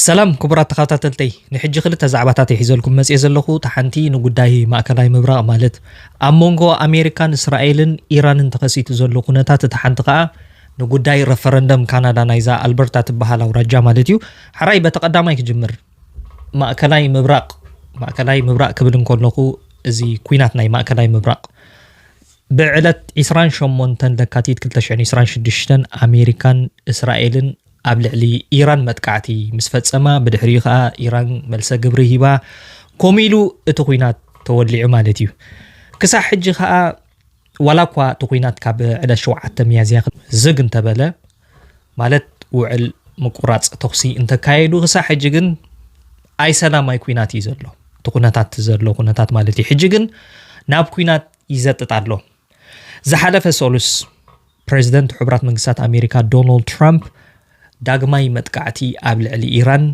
ሰላም ክቡራት ተኸታተልተይ ንሕጂ ክልተ ዛዕባታት እየ ሒዘልኩም መጽየ ዘለኹ እታ ሓንቲ ንጉዳይ ማእከላይ ምብራቕ ማለት ኣብ መንጎ ኣሜሪካን እስራኤልን ኢራንን ተኸሲቱ ዘሎ ኩነታት እታ ሓንቲ ከኣ ንጉዳይ ረፈረንደም ካናዳ ናይዛ ኣልበርታ ትበሃል ኣውራጃ ማለት እዩ ሓራይ በቲ ቀዳማይ ክጅምር ማእከላይ ምብራቕ ማእከላይ ምብራቕ ክብል እንከለኹ እዚ ኩናት ናይ ማእከላይ ምብራቕ ብዕለት 28 ለካቲት 226 ኣሜሪካን እስራኤልን ኣብ ልዕሊ ኢራን መጥቃዕቲ ምስ ፈጸማ ብድሕሪኡ ከኣ ኢራን መልሰ ግብሪ ሂባ ከምኡ ኢሉ እቲ ኩናት ተወሊዑ ማለት እዩ ክሳዕ ሕጂ ከኣ ዋላ እኳ እቲ ኩናት ካብ ዕለት ሸውዓተ ሚያዝያ ዝግ እንተበለ ማለት ውዕል ምቁራጽ ተኹሲ እንተካየዱ ክሳዕ ሕጂ ግን ኣይ ሰላማይ ኩናት እዩ ዘሎ እቲ ኩነታት ዘሎ ኩነታት ማለት እዩ ሕጂ ግን ናብ ኩናት ይዘጥጥ ኣሎ ዝሓለፈ ሰሉስ ፕረዚደንት ሕቡራት መንግስታት ኣሜሪካ ዶናልድ ትራምፕ ዳግማይ መጥቃዕቲ ኣብ ልዕሊ ኢራን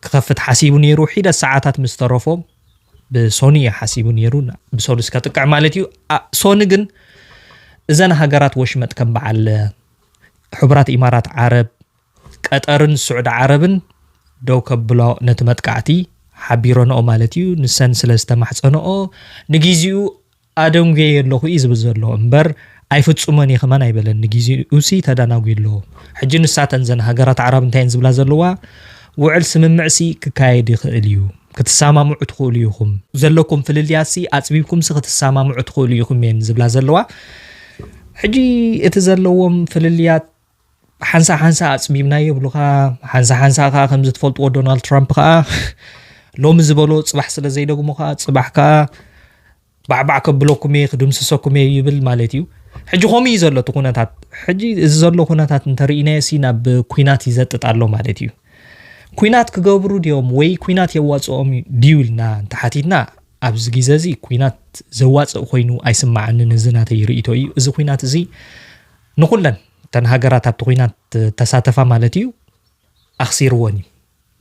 ክኸፍት ሓሲቡ ነይሩ ሒደት ሰዓታት ምስ ተረፎ ብሶኒ እዩ ሓሲቡ ነይሩ ብሰሉስ ከጥቅዕ ማለት እዩ ሶኒ ግን እዘን ሃገራት ወሽመጥ ከም በዓል ሕቡራት ኢማራት ዓረብ ቀጠርን ስዑዲ ዓረብን ደው ከብሎ ነቲ መጥቃዕቲ ሓቢረንኦ ማለት እዩ ንሰን ስለ ዝተማሕፀንኦ ንግዜኡ ኣደንጉየዮ ኣለኹ እዩ ዝብል ዘሎ እምበር ኣይፍጹሞን እየ ከማን ኣይበለን ንጊዜኡሲ ተዳናጉዩ ኣሎ ሕጂ ንሳተን ዘን ሃገራት ኣዕራብ እንታይ እየን ዝብላ ዘለዋ ውዕል ስምምዕሲ ክካየድ ይኽእል እዩ ክትሰማምዑ ትኽእሉ ኢኹም ዘለኩም ፍልልያትሲ ኣጽቢብኩምሲ ክትሰማምዑ ትኽእሉ ኢኹም እየን ዝብላ ዘለዋ ሕጂ እቲ ዘለዎም ፍልልያት ሓንሳእ ሓንሳእ ኣጽቢብና የብሉኻ ሓንሳእ ሓንሳእ ከዓ ከምዚ ትፈልጥዎ ዶናልድ ትራምፕ ከዓ ሎሚ ዝበሎ ፅባሕ ስለ ዘይደግሞ ከዓ ፅባሕ ከዓ ባዕባዕ ከብለኩም እየ ክድምስሰኩም እየ ይብል ማለት እዩ ሕጂ ከምኡ እዩ ዘሎ እቲ ኩነታት ሕጂ እዚ ዘሎ ኩነታት እንተርኢናዮ ሲ ናብ ኩናት ይዘጥጥ ኣሎ ማለት እዩ ኩናት ክገብሩ ድዮም ወይ ኩናት የዋፅኦም ድዩ ኢልና እንተሓቲትና ኣብዚ ግዜ እዚ ኩናት ዘዋፅእ ኮይኑ ኣይስማዓንን እዚ ናተይ ርእቶ እዩ እዚ ኩናት እዚ ንኹለን እተን ሃገራት ኣብቲ ኹናት ተሳተፋ ማለት እዩ ኣኽሲርወን እዩ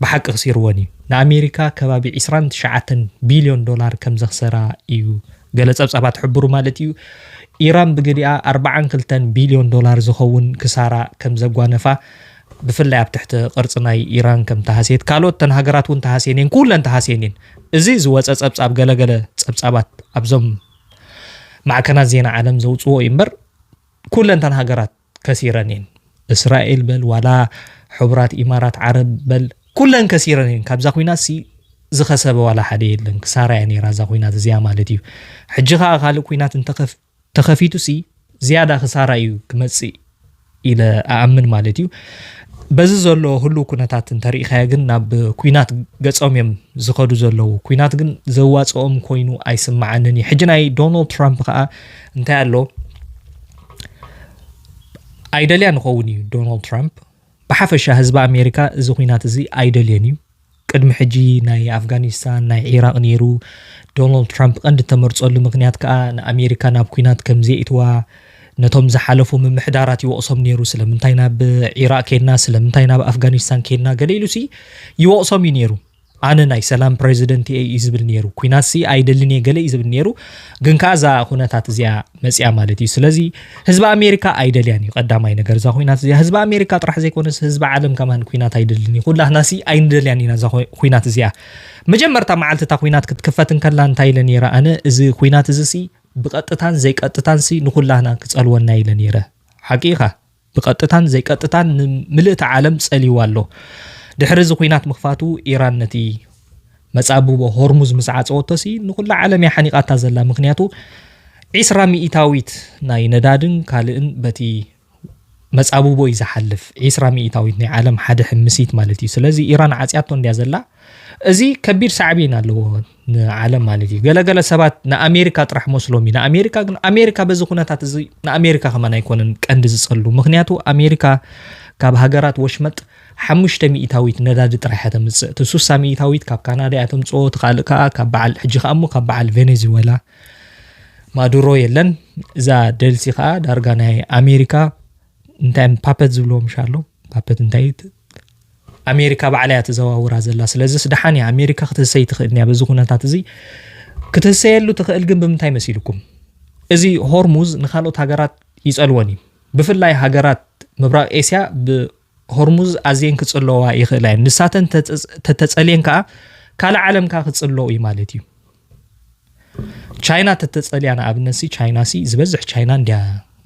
ብሓቂ ክሲርወን እዩ ንኣሜሪካ ከባቢ 2 ትሽዓተን ቢልዮን ዶላር ከም ዘኽሰራ እዩ ገለ ጸብጻባት ሕብሩ ማለት እዩ ኢራን ብግዲኣ 42 ቢልዮን ዶላር ዝኸውን ክሳራ ከም ዘጓነፋ ብፍላይ ኣብ ትሕቲ ቅርፂ ናይ ኢራን ከም ተሃስየት ካልኦት ተን ሃገራት እውን ተሃስየን እየን ኩለን ተሃስየን እየን እዚ ዝወፀ ፀብፃብ ገለገለ ፀብፃባት ኣብዞም ማዕከናት ዜና ዓለም ዘውጽዎ እዩ እምበር ኩለን እተን ሃገራት ከሲረን እየን እስራኤል በል ዋላ ሕቡራት ኢማራት ዓረብ በል ኩለን ከሲረን እየን ካብዛ ኩናት ሲ ዝኸሰበ ዋላ ሓደ የለን ክሳራ እያ ነይራ እዛ ኩናት እዚኣ ማለት እዩ ሕጂ ከዓ ካልእ ኩናት እንተኸፊቱ ሲ ዝያዳ ክሳራ እዩ ክመጽእ ኢለ ኣኣምን ማለት እዩ። በዚ ዘሎ ህሉው ኩነታት እንተሪኢኻዮ ግን ናብ ኩናት ገጾም እዮም ዝኸዱ ዘለዉ። ኩናት ግን ዘዋጽኦም ኮይኑ ኣይስምዓንን እዩ። ሕጂ ናይ ዶናልድ ትራምፕ ከዓ እንታይ ኣሎ ኣይደልያ ንኸውን እዩ ዶናልድ ትራምፕ ብሓፈሻ ህዝቢ ኣሜሪካ እዚ ኩናት እዚ ኣይደልዮን እዩ። ቅድሚ ሕጂ ናይ ኣፍጋኒስታን ናይ ዒራቕ ነይሩ። ዶናልድ ትራምፕ ቀንዲ እተመርጸሉ ምኽንያት ከኣ ንኣሜሪካ ናብ ኲናት ከም ዘየእትዋ ነቶም ዝሓለፉ ምምሕዳራት ይወቕሶም ነይሩ። ስለምንታይ ናብ ዒራቕ ኬድና፣ ስለምንታይ ናብ ኣፍጋኒስታን ኬድና ገለ ኢሉሲ ይወቕሶም እዩ ነይሩ። ኣነ ናይ ሰላም ፕረዚደንት እየ እዩ ዝብል ነይሩ። ኲናትሲ ኣይደልን እየ ገለ እዩ ዝብል ነይሩ። ግን ከኣ እዛ ዅነታት እዚኣ መጽያ ማለት እዩ ስለዚ ህዝቢ ኣሜሪካ ኣይደልያን እዩ ቀዳማይ ነገር እዛ ኩናት እዚኣ ህዝቢ ኣሜሪካ ጥራሕ ዘይኮነስ ህዝቢ ዓለም ከማን ኩናት ኣይደልን እዩ ኩላህናሲ ኣይንደልያን ኢና እዛ ኩናት እዚኣ መጀመርታ መዓልቲ እታ ኩናት ክትክፈት እንከላ እንታይ ኢለ ነይረ ኣነ እዚ ኩናት እዚ ሲ ብቐጥታን ዘይቀጥታን ሲ ንኩላህና ክጸልወና ኢለ ነይረ ሓቂ ኢኻ ብቐጥታን ዘይቀጥታን ንምልእቲ ዓለም ጸልይዋ ኣሎ። ድሕሪ እዚ ኲናት ምኽፋቱ ኢራን ነቲ መጻብቦ ሆርሙዝ ምስ ዓጸወቶሲ ንኹላ ዓለም እያ ሓኒቓታ ዘላ ምኽንያቱ ዒስራ ሚኢታዊት ናይ ነዳድን ካልእን በቲ መጻብቦ እዩ ዝሓልፍ ዒስራ ሚኢታዊት ናይ ዓለም ሓደ ሕምሲት ማለት እዩ ስለዚ ኢራን ዓጽያቶ እንድያ ዘላ እዚ ከቢድ ሳዕቤን ኣለዎ ንዓለም ማለት እዩ ገለ ገለ ሰባት ንኣሜሪካ ጥራሕ መስሎም እዩ ንኣሜሪካ ግን ኣሜሪካ በዚ ኩነታት እዚ ንኣሜሪካ ከማን ኣይኮነን ቀንዲ ዝጸሉ ምክንያቱ ኣሜሪካ ካብ ሃገራት ወሽመጥ ሓሙሽተ ሚእታዊት ነዳዲ ጥራሕ እያ ተምጽእ እቲ ሱሳ ሚእታዊት ካብ ካናዳ እያ ተምጽኦ እቲ ካልእ ከዓ ካብ በዓል ሕጂ ከዓ እሞ ካብ በዓል ቬኔዙዌላ ማዱሮ የለን እዛ ደልሲ ከዓ ዳርጋ ናይ ኣሜሪካ እንታይ ፓፐት ዝብልዎ ምሻ ኣሎ ፓፐት እንታይ ኣሜሪካ ባዕላ እያ ተዘዋውራ ዘላ። ስለዚስ ደሓን እያ ኣሜሪካ ክትህሰይ ትኽእል እያ። በዚ ኩነታት እዚ ክትህሰየሉ ትኽእል ግን ብምንታይ መሲልኩም? እዚ ሆርሙዝ ንካልኦት ሃገራት ይጸልወን እዩ። ብፍላይ ሃገራት ምብራቕ ኤስያ ብሆርሙዝ ኣዝየን ክጽለዋ ይኽእላ እየን። ንሳተን ተተጸልየን ከኣ ካልእ ዓለም ከኣ ክጽለው እዩ ማለት እዩ። ቻይና ተተጸልያ ንኣብነት ሲ ቻይና ሲ ዝበዝሕ ቻይና እንድያ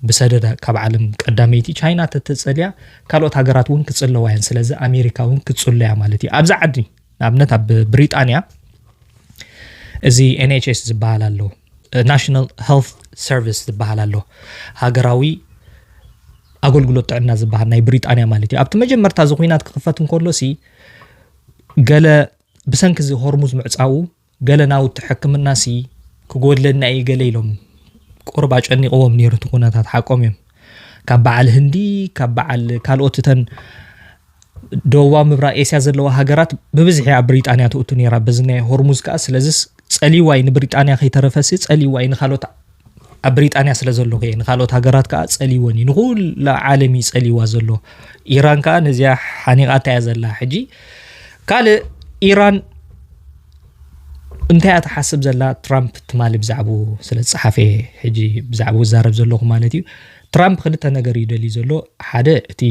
ብሰደዳ ካብ ዓለም ቀዳመይቲ ቻይና ተተጸልያ ካልኦት ሃገራት እውን ክጽለዋ እየን ስለዚ ኣሜሪካ እውን ክጽለያ ማለት እዩ ኣብዚ ዓዲ ንኣብነት ኣብ ብሪጣንያ እዚ ኤንኤችኤስ ዝበሃል ኣሎ ናሽናል ሄልት ሰርቪስ ዝበሃል ኣሎ ሃገራዊ ኣገልግሎት ጥዕና ዝበሃል ናይ ብሪጣንያ ማለት እዩ ኣብቲ መጀመርታ እዚ ኩናት ክኽፈት እንከሎ ሲ ገለ ብሰንኪ እዚ ሆርሙዝ ምዕፃዉ ገለ ናውቲ ሕክምናሲ ክጎድለና እዩ ገለ ኢሎም ቁርብ ኣጨኒቕዎም ነይሩ እቲ ኩነታት ሓቆም እዮም ካብ በዓል ህንዲ ካብ በዓል ካልኦት እተን ደቡባዊ ምብራቅ ኤስያ ዘለዋ ሃገራት ብብዝሒ ኣብ ብሪጣንያ ትእቱ ነይራ በዚ ናይ ሆርሙዝ ከዓ ስለዚስ ፀሊዋይ ንብሪጣንያ ከይተረፈሲ ፀሊዋይ ንካልኦት ኣብ ብሪጣንያ ስለ ዘለኹ እየ ንካልኦት ሃገራት ከዓ ጸልይወን እዩ ንኩላ ዓለም እዩ ጸልይዋ ዘሎ ኢራን ከዓ ነዚኣ ሓኒቓታ እያ ዘላ ሕጂ ካልእ ኢራን እንታይ እያ ትሓስብ ዘላ ትራምፕ ትማሊ ብዛዕባ ስለ ዝፀሓፈ ሕጂ ብዛዕባ ዝዛረብ ዘለኹ ማለት እዩ ትራምፕ ክልተ ነገር እዩ ደልዩ ዘሎ ሓደ እቲ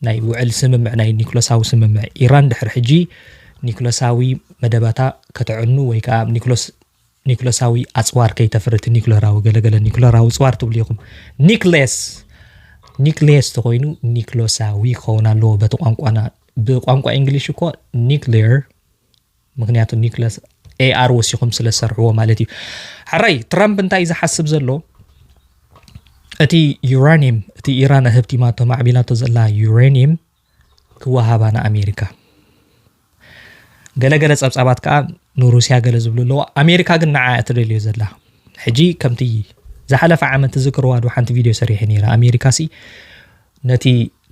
ናይ ውዕል ስምምዕ ናይ ኒክሎሳዊ ስምምዕ ኢራን ድሕሪ ሕጂ ኒክሎሳዊ መደባታ ከተዕኑ ወይ ከዓ ኒክሎስ ኒኩለሳዊ ኣጽዋር ከይተፍሪ እቲ ኒኩለራዊ ገለገለ ኒኩለራዊ ጽዋር ትብሉ ኢኹም ኒክሌስ ኒክሌስ ተኮይኑ ኒክሎሳዊ ክኸውን ኣለዎ በቲ ቋንቋና ብቋንቋ እንግሊሽ እኮ ኒክሌር ምክንያቱ ኒክለስ ኤኣር ወሲኹም ስለ ዝሰርሕዎ ማለት እዩ ሕራይ ትራምፕ እንታይ እዩ ዝሓስብ ዘሎ እቲ ዩራኒየም እቲ ኢራን ህብቲማቶ ማዕቢላቶ ዘላ ዩራኒየም ክወሃባ ንኣሜሪካ ገለገለ ጸብጻባት ከኣ ንሩስያ ገለ ዝብሉ ኣለዉ ኣሜሪካ ግን ንዓ እትደልዮ ዘላ ሕጂ ከምቲ ዝሓለፈ ዓመት ትዝክርዋ ዶ ሓንቲ ቪድዮ ሰሪሐ ነይረ ኣሜሪካ ሲ ነቲ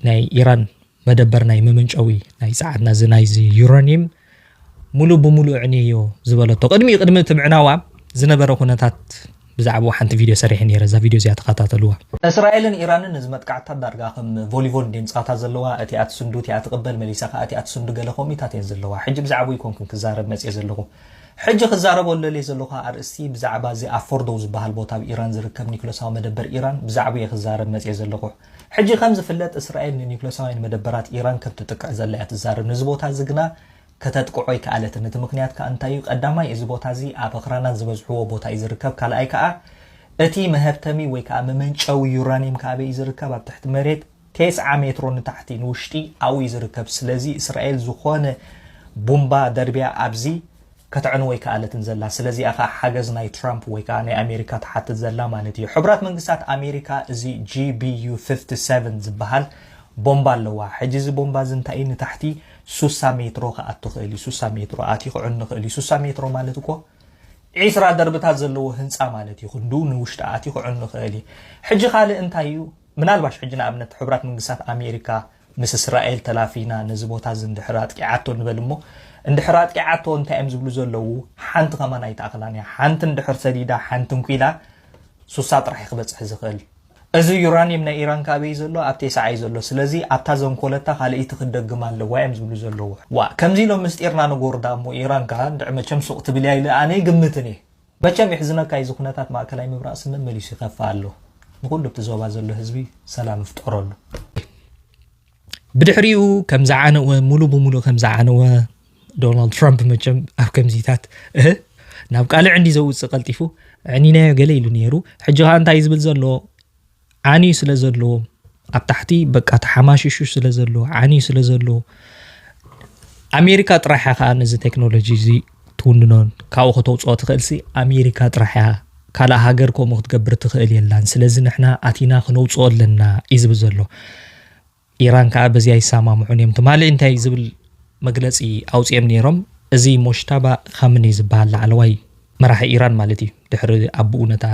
ናይ ኢራን መደበር ናይ መመንጨዊ ናይ ጸዓትና እዚ ናይዚ ዩራኒየም ሙሉእ ብሙሉእ ኣዕንየዮ ዝበለቶ ቅድሚ ቅድሚ እቲ ምዕናዋ ዝነበረ ኩነታት ብዛዕብኡ ሓንቲ ቪድዮ ሰሪሐ ነይረ እዛ ቪድዮ እዚኣ ተኸታተልዋ። እስራኤልን ኢራንን እዚ መጥቃዕትታት ዳርጋ ከም ቮሊቮል እንድየን ጸዋታት ዘለዋ፣ እቲኣ ትስንዱ እቲኣ ትቕበል መሊሳ ከኣ እቲኣ ትስንዱ ገለ ከምኡታት እየን ዘለዋ። ሕጂ ብዛዕብኡ ኣይኮንኩን ክዛረብ መጽየ ዘለኹ። ሕጂ ክዛረቦ ዝደልየ ዘለኹ ኣርእስቲ ብዛዕባ እዚ ኣብ ፎርዶው ዝበሃል ቦታ ኣብ ኢራን ዝርከብ ኒኩለሳዊ መደበር ኢራን ብዛዕብኡ እየ ክዛረብ መጽየ ዘለኹ። ሕጂ ከም ዝፍለጥ እስራኤል ንኒዩክለሳውያን መደበራት ኢራን ከም ትጥቅዕ ዘላ እያ ትዛረብ። ነዚ ቦታ እዚ ግና ከተጥቅዖ ኣይከኣለትን። እቲ ምኽንያት ከኣ እንታይ እዩ? ቀዳማይ እዚ ቦታ እዚ ኣብ ኣኽራናት ዝበዝሕዎ ቦታ እዩ ዝርከብ። ካልኣይ ከኣ እቲ መሀብተሚ ወይ ከኣ መመንጨዊ ዩራንየም ከ ኣበይ እዩ ዝርከብ? ኣብ ትሕቲ መሬት ቴስዓ ሜትሮ ንታሕቲ ንውሽጢ ኣብኡ እዩ ዝርከብ። ስለዚ እስራኤል ዝኾነ ቡምባ ደርብያ ኣብዚ ከተዕንዎ ኣይከኣለትን ዘላ። ስለዚ'ያ ከኣ ሓገዝ ናይ ትራምፕ ወይ ከኣ ናይ ኣሜሪካ ትሓትት ዘላ ማለት እዩ። ሕቡራት መንግስታት ኣሜሪካ እዚ GBU ፍፍቲ ሰቨን ዝበሃል ቦምባ ኣለዋ። ሕጂ እዚ ቦምባ እዚ እንታይ እዩ ንታሕቲ ሱሳ ሜትሮ ክኣቱ ይኽእል እዩ። ሱሳ ሜትሮ ኣትዩ ክዕኑ ይኽእል እዩ። ሱሳ ሜትሮ ማለት እኮ ዒስራ ደርብታት ዘለዎ ህንጻ ማለት እዩ። ክንድኡ ንውሽጢ ኣትዩ ክዕኑ ይኽእል እዩ። ሕጂ ካልእ እንታይ እዩ ምናልባሽ ሕጂ ንኣብነት ሕቡራት መንግስታት ኣሜሪካ ምስ እስራኤል ተላፊና ነዚ ቦታ እዚ እንድሕር ኣጥቂዓቶ ንበል እሞ እንድሕር ኣጥቂዓቶ እንታይ እዮም ዝብሉ ዘለዉ ሓንቲ ከማን ኣይትኣኽላን እያ ሓንቲ እንድሕር ሰዲዳ ሓንቲ እንኲላ ሱሳ ጥራሕ እዩ ክበጽሕ ዝኽእል እዚ ዩራኒየም ናይ ኢራን ካበይ ዘሎ ኣብ ቴስዓ እዩ ዘሎ ስለዚ ኣብታ ዘንኮለታ ካልእይቲ ክትደግም ኣለዋ እዮም ዝብሉ ዘለዉ ዋእ ከምዚ ኢሎም ምስጢርና ንጎርዳ እሞ ኢራን ከኣ እንድዕ መቸም ሱቕ ትብል እያ ኢለ ኣነ ይግምትን እየ መቸም የሕዝነካ ኢዚ ኩነታት ማእከላይ ምብራቅ ስምእ መሊሱ ይከፍእ ኣሎ ንኩሉ ኣብቲ ዞባ ዘሎ ህዝቢ ሰላም ፍጠረሉ። ብድሕሪኡ ከም ዝዓነወ ሙሉ ብሙሉ ከም ዝዓነወ ዶናልድ ትራምፕ መቸም ኣብ ከምዚታት እህ ናብ ቃልዕ እንዲ ዘውፅእ ቀልጢፉ ዕኒናዮ ገለ ኢሉ ነይሩ ሕጂ ከዓ እንታይ ዝብል ዘሎ ዓንዩ ስለ ዘሎ ኣብ ታሕቲ በቃ ተሓማሽሹ ስለ ዘሎ ዓንዩ ስለ ዘሎ ኣሜሪካ ጥራሕ እያ ከዓ ነዚ ቴክኖሎጂ እዚ ትውንኖን ካብኡ ከተውፅኦ ትኽእልሲ ኣሜሪካ ጥራሕ እያ ካልእ ሃገር ከምኡ ክትገብር ትኽእል የላን ስለዚ ንሕና ኣቲና ክነውፅኦ ኣለና እዩ ዝብል ዘሎ ኢራን ከኣ በዚ ኣይሰማምዑን እዮም ትማሊ እንታይ ዝብል መግለጺ ኣውጺኦም ነይሮም እዚ ሞሽታባ ኻምኒ ዝበሃል ላዕለዋይ መራሒ ኢራን ማለት እዩ ድሕሪ ኣቡኡ ነታ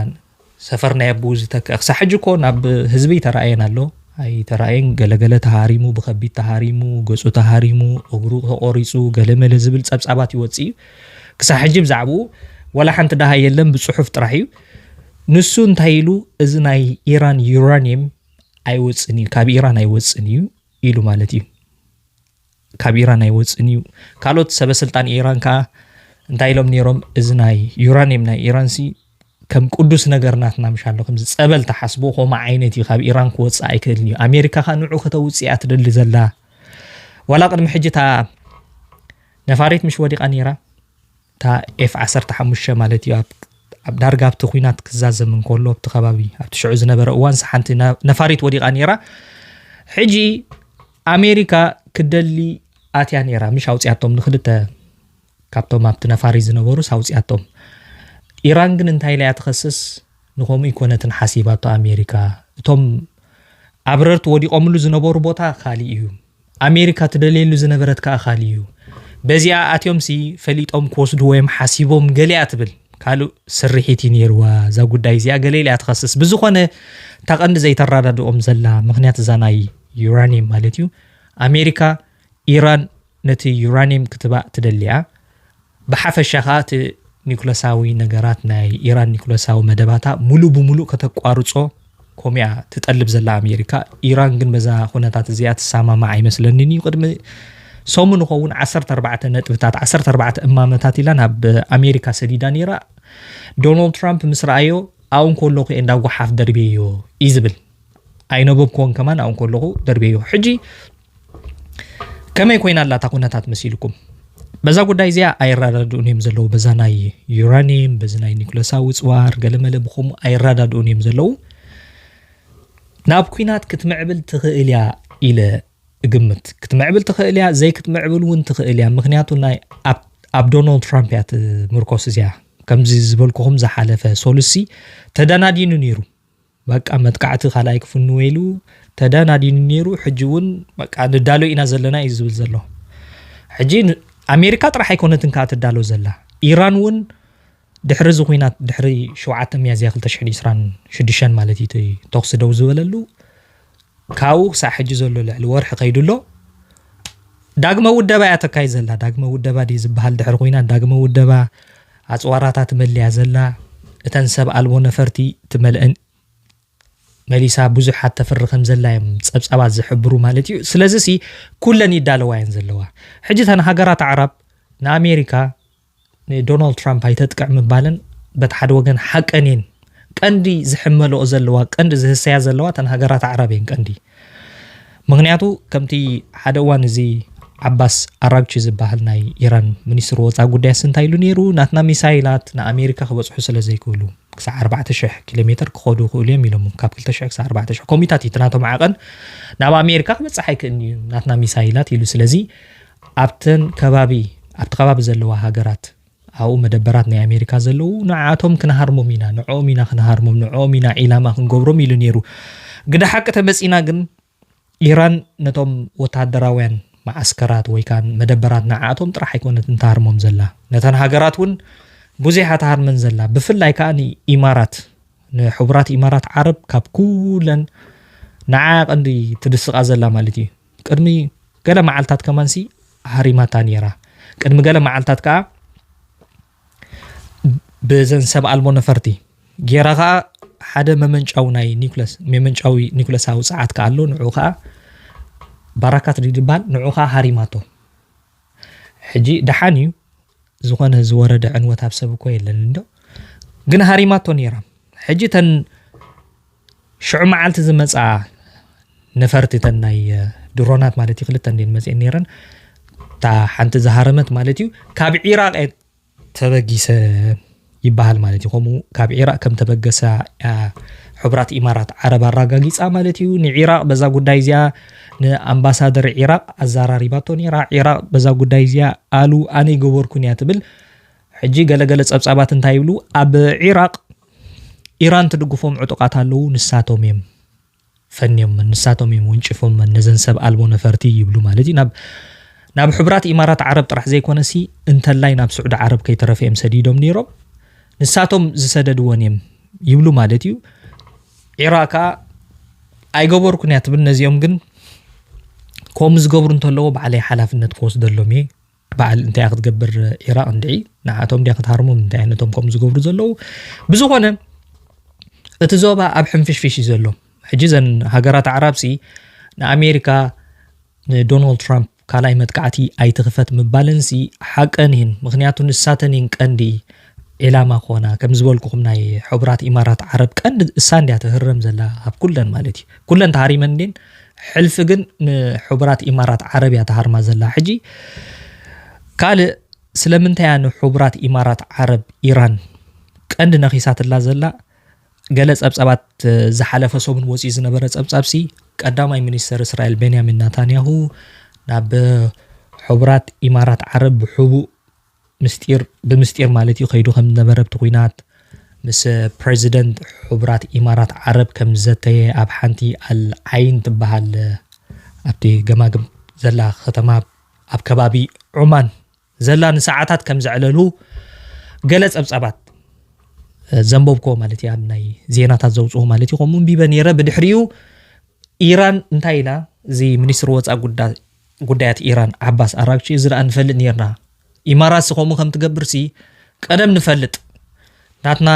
ሰፈር ናይ ኣቡኡ ዝተክኣ ክሳዕ ሕጂ እኮ ናብ ህዝቢ ኣይተራእየን ኣሎ ኣይተራእየን ገለገለ ተሃሪሙ ብኸቢድ ተሃሪሙ ገጹ ተሃሪሙ እግሩ ተቖሪጹ ገለመለ ዝብል ጸብጻባት ይወጽእ እዩ ክሳዕ ሕጂ ብዛዕባኡ ወላ ሓንቲ ደሃ የለን ብጽሑፍ ጥራሕ እዩ ንሱ እንታይ ኢሉ እዚ ናይ ኢራን ዩራኒየም ኣይወፅን እዩ ካብ ኢራን ኣይወፅን እዩ ኢሉ ማለት እዩ ካብ ኢራን ኣይወፅን እዩ ካልኦት ሰበስልጣን ኢራን ከዓ እንታይ ኢሎም ነይሮም እዚ ናይ ዩራኒየም ናይ ኢራንሲ ከም ቅዱስ ነገር ናትና ምሻ ኣሎ ከምዚ ፀበል ተሓስቦ ከምኡ ዓይነት እዩ ካብ ኢራን ክወፅእ ኣይክእልን እዩ ኣሜሪካ ከዓ ንዑ ከተውፅእ እያ ትደሊ ዘላ ዋላ ቅድሚ ሕጂ እታ ነፋሪት ምሽ ወዲቓ ነይራ እታ ኤፍ ዓሰርተ ሓሙሽተ ማለት እዩ ኣብ ኣብ ዳርጋ ኣብቲ ኩናት ክዛዘም እንከሎ ኣብቲ ከባቢ ኣብቲ ሽዑ ዝነበረ እዋንስ ሓንቲ ነፋሪት ወዲቓ ነይራ ሕጂ ኣሜሪካ ክደሊ ኣትያ ነይራ ምሽ ኣውፅያቶም ንክልተ ካብቶም ኣብቲ ነፋሪ ዝነበሩስ ኣውፅያቶም ኢራን ግን እንታይ ኢላ እያ ትኸስስ ንከምኡ ይኮነትን ሓሲባቶ ኣሜሪካ እቶም ኣብረርቲ ወዲቖምሉ ዝነበሩ ቦታ ካሊእ እዩ ኣሜሪካ ትደልየሉ ዝነበረት ከኣ ካልእ'ዩ። በዚኣ ኣትዮምሲ ፈሊጦም ክወስድዎ'ዮም ሓሲቦም ገለ'ያ ትብል። ካልእ ስርሒት'ዩ ነይርዋ እዛ ጉዳይ እዚኣ ገለ ኢላ'ያ ትኸስስ። ብዝኾነ እታ ቀንዲ ዘይተራዳድኦም ዘላ ምኽንያት እዛ ናይ ዩራንየም ማለት'ዩ። ኣሜሪካ ኢራን ነቲ ዩራንየም ክትባእ ትደሊ'ያ። ብሓፈሻ ከኣ እቲ ኒኩለሳዊ ነገራት ናይ ኢራን ኒኩለሳዊ መደባታ ምሉእ ብምሉእ ከተቋርጾ ኮም'ያ ትጠልብ ዘላ ኣሜሪካ። ኢራን ግን በዛ ኩነታት እዚኣ ትሰማማዕ ኣይመስለንን እዩ። ቅድሚ ሰሙን ይኸውን ዓሰርተ ኣርባዕተ ነጥብታት ዓሰርተ ኣርባዕተ እማመታት ኢላ ናብ ኣሜሪካ ሰዲዳ ነይራ። ዶናልድ ትራምፕ ምስ ረኣዮ ኣብኡ እንከለኹ እየ እንዳ ጓሓፍ ደርብየዮ እዩ ዝብል። ኣይነበብክዎን ከማን ኣብኡ እንከለኹ ደርብየዮ። ሕጂ ከመይ ኮይና ኣላ እታ ኩነታት መሲልኩም በዛ ጉዳይ እዚኣ ኣይረዳድኡን እዮም ዘለዉ በዛ ናይ ዩራኒየም በዚ ናይ ኒኩለሳዊ ፅዋር ገለመለ ብከምኡ ኣይረዳድኡን እዮም ዘለዉ ናብ ኩናት ክትምዕብል ትኽእል እያ ኢለ እግምት ክትምዕብል ትኽእል እያ ዘይክትምዕብል እውን ትኽእል እያ ምክንያቱ ናይ ኣብ ዶናልድ ትራምፕ እያ ትምርኮስ እዚኣ ከምዚ ዝበልኩኹም ዝሓለፈ ሶሉሲ ተደናዲኑ ነይሩ በቃ መጥቃዕቲ ካልኣይ ክፍንወ ኢሉ ተዳናዲኑ ነይሩ። ሕጂ እውን በቃ ንዳሎ ኢና ዘለና እዩ ዝብል ዘሎ። ሕጂ ኣሜሪካ ጥራሕ ኣይኮነትን ከዓ ትዳሎ ዘላ ኢራን እውን ድሕሪ እዚ ኩናት ድሕሪ ሸውዓተ ሚያዝያ ክልተ ሽሕን ዕስራን ሽዱሽተን ማለት እዩ ተኹሲ ደው ዝበለሉ ካብኡ ክሳዕ ሕጂ ዘሎ ልዕሊ ወርሒ ከይዱ ኣሎ። ዳግመ ውደባ እያ ተካይድ ዘላ። ዳግመ ውደባ ድዩ ዝበሃል ድሕሪ ኩናት ዳግመ ውደባ ኣፅዋራታ ትመልያ ዘላ እተን ሰብ ኣልቦ ነፈርቲ ትመልአን መሊሳ ብዙሓት ተፍሪ ከም ዘላ እዮም ፀብፃባት ዝሕብሩ ማለት እዩ ስለዚ ሲ ኩለን ይዳለዋ እየን ዘለዋ ሕጂ ተን ሃገራት ኣዕራብ ንኣሜሪካ ንዶናልድ ትራምፕ ኣይተጥቅዕ ምባለን በቲ ሓደ ወገን ሓቀን እየን ቀንዲ ዝሕመልኦ ዘለዋ ቀንዲ ዝህሰያ ዘለዋ እተን ሃገራት ኣዕራብ እየን ቀንዲ ምክንያቱ ከምቲ ሓደ እዋን እዚ ዓባስ ኣራግቺ ዝበሃል ናይ ኢራን ሚኒስትሪ ወፃኢ ጉዳይ ስንታይ ኢሉ ነይሩ ናትና ሚሳይላት ንኣሜሪካ ክበፅሑ ስለ ዘይክእሉ ክሳዕ 4,000 ኪሎ ሜትር ክኸዱ ይኽእሉ እዮም ኢሎም ካብ 2,000 ክሳዕ 4,000 ኮሚታት እዩ ናቶም ዓቐን ናብ ኣሜሪካ ክበፅሕ ኣይክእልን እዩ ናትና ሚሳይላት ኢሉ ስለዚ ኣብተን ከባቢ ኣብቲ ከባቢ ዘለዋ ሃገራት ኣብኡ መደበራት ናይ ኣሜሪካ ዘለዉ ንዓኣቶም ክንሃርሞም ኢና ንዕኦም ኢና ክንሃርሞም ንዕኦም ኢና ዒላማ ክንገብሮም ኢሉ ነይሩ ግደ ሓቂ ተመጺና ግን ኢራን ነቶም ወተሃደራውያን መዓስከራት ወይ ከዓ መደበራት ንዓኣቶም ጥራሕ ኣይኮነትን ትሃርሞም ዘላ ነተን ሃገራት እውን ብዙሕ ትሃርመን ዘላ ብፍላይ ከዓ ንኢማራት ንሕቡራት ኢማራት ዓረብ ካብ ኩለን ንዓኣ ቀንዲ ትድስቃ ዘላ ማለት እዩ ቅድሚ ገለ መዓልታት ከማንሲ ሃሪማታ ነይራ። ቅድሚ ገለ መዓልታት ከኣ ብዘን ሰብ ኣልቦ ነፈርቲ ጌራ ከኣ ሓደ መመንጫዊ ናይ ኒኩለስ መመንጫዊ ኒኩለሳዊ ጸዓት ከኣ ኣሎ ንዑ ከኣ ባራካት ድዩ ዝበሃል ንዑ ከኣ ሃሪማቶ ሕጂ ደሓን እዩ ዝኾነ ዝወረደ ዕንወት ኣብ ሰብ እኮ የለን እንዶ ግን ሃሪማቶ ነይራ ሕጂ ተን ሽዑ መዓልቲ ዝመፅኣ ነፈርቲ ተን ናይ ድሮናት ማለት እዩ ክልተ እንዴን መፅኤን ነይረን እታ ሓንቲ ዝሃረመት ማለት እዩ ካብ ዒራቅ ተበጊሰ ይበሃል ማለት እዩ። ከምኡ ካብ ዒራቕ ከም ተበገሳ እያ ሕቡራት ኢማራት ዓረብ ኣረጋጊጻ ማለት እዩ። ንዒራቕ በዛ ጉዳይ እዚኣ ንኣምባሳደር ዒራቕ ኣዘራሪባቶ ነይራ። ዒራቕ በዛ ጉዳይ እዚኣ ኣሉ ኣነ ኣይገበርኩን እያ ትብል። ሕጂ ገለገለ ጸብጻባት እንታይ ይብሉ ኣብ ዒራቕ ኢራን ትድግፎም ዕጡቓት ኣለዉ ንሳቶም እዮም ፈንዮመን ንሳቶም እዮም ወንጪፎመን ነዘን ሰብ ኣልቦ ነፈርቲ ይብሉ ማለት እዩ ናብ ናብ ሕቡራት ኢማራት ዓረብ ጥራሕ ዘይኮነሲ እንተላይ ናብ ስዑዲ ዓረብ ከይተረፈ እዮም ሰዲዶም ነይሮም ንሳቶም ዝሰደድወን እዮም ይብሉ ማለት እዩ ዒራ ከዓ ኣይገበርኩን እያ ትብል ነዚኦም ግን ከምኡ ዝገብሩ እንተለዎ ባዕለይ ሓላፍነት ክወስደሎም እየ በዓል እንታይ ክትገብር ዒራቕ እንድዒ ንዓቶም ድያ ክትሃርሞም እንታይ ነቶም ከምኡ ዝገብሩ ዘለዉ ብዝኾነ እቲ ዞባ ኣብ ሕንፍሽፍሽ እዩ ዘሎ ሕጂ ዘን ሃገራት ኣዕራብሲ ንኣሜሪካ ንዶናልድ ትራምፕ ካልኣይ መጥቃዕቲ ኣይትኽፈት ምባለንሲ ሓቀን እየን ምክንያቱ ንሳተን እየን ቀንዲ ዒላማ ክኾና ከም ዝበልኩኹም ናይ ሕቡራት ኢማራት ዓረብ ቀንዲ እሳ እንድያ ትህረም ዘላ ካብ ኩለን ማለት እዩ ኩለን ተሃሪመን እንድየን ሕልፊ ግን ንሕቡራት ኢማራት ዓረብ እያ ተሃርማ ዘላ ሕጂ ካልእ ስለምንታይ እያ ንሕቡራት ኢማራት ዓረብ ኢራን ቀንዲ ነኺሳትላ ዘላ ገለ ጸብጻባት ዝሓለፈ ሰሙን ወጺኡ ዝነበረ ጸብጻብሲ ቀዳማይ ሚኒስተር እስራኤል ቤንያሚን ናታንያሁ ናብ ሕቡራት ኢማራት ዓረብ ብሕቡእ ምስጢር ብምስጢር ማለት እዩ ከይዱ ከም ዝነበረ ኣብቲ ኲናት ምስ ፕረዚደንት ሕቡራት ኢማራት ዓረብ ከም ዝዘተየ ኣብ ሓንቲ ኣል ዓይን ትበሃል ኣብቲ ገማግም ዘላ ከተማ ኣብ ከባቢ ዑማን ዘላ ንሰዓታት ከም ዘዕለሉ ገለ ጸብጻባት ዘንበብኮ ማለት እዩ ኣብ ናይ ዜናታት ዘውፅኡ ማለት እዩ ከምኡ ንቢበ ነይረ ብድሕሪኡ ኢራን እንታይ ኢላ እዚ ሚኒስትሪ ወፃኢ ጉዳይ ጉዳያት ኢራን ዓባስ ኣራግቺ እዚ ደኣ ንፈልጥ ኔርና ኢማራትሲ ከምኡ ከም ትገብርሲ ቀደም ንፈልጥ ናትና